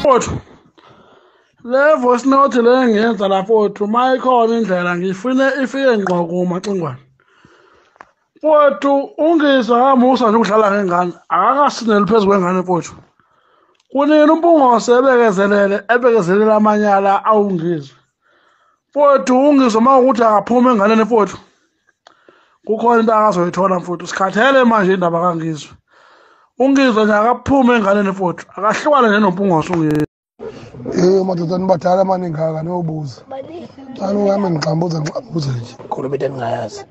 Kodwa le voice note le ngiyenza lapho wethu uma ikhona indlela ngifune ifike ngqo kumacingwane wethu ungizwa kamusa nje ukudlala ngengane akakasineli phezu kwengane mfowethu kunini umpungose ebekezelele ebekezelele amanyala awungizwe mfowethu ungizwa uma ukuthi akaphuma enganeni mfowethu kukhona into akazoyithola mfowethu sikhathele manje indaba kangizwe ungizwe nje akaphume enganeni mfowethu akahlukane nje nompungose ungizwe Eh madoda nibadala mani ngaka nobuza. Cala ngami ngixambuza ngixambuza nje. Khona into engingayazi.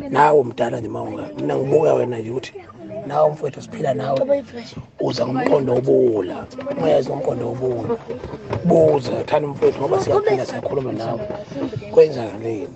Nawe mdala nje mawunga. Mina ngibuka wena nje ukuthi nawe mfowethu siphila nawe. Uza ngomqondo obula. Uyazi ngomqondo obula. Buza thana mfowethu ngoba siyaphila siyakhuluma nawe. Kwenzakani?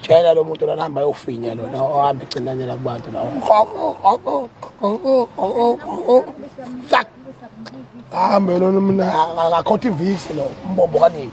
tshela lo muntu lona hamba yofinya lona ohambe ecinanyela kubantu la hambe lona mina akakhotha ivisi lo umbombo kanini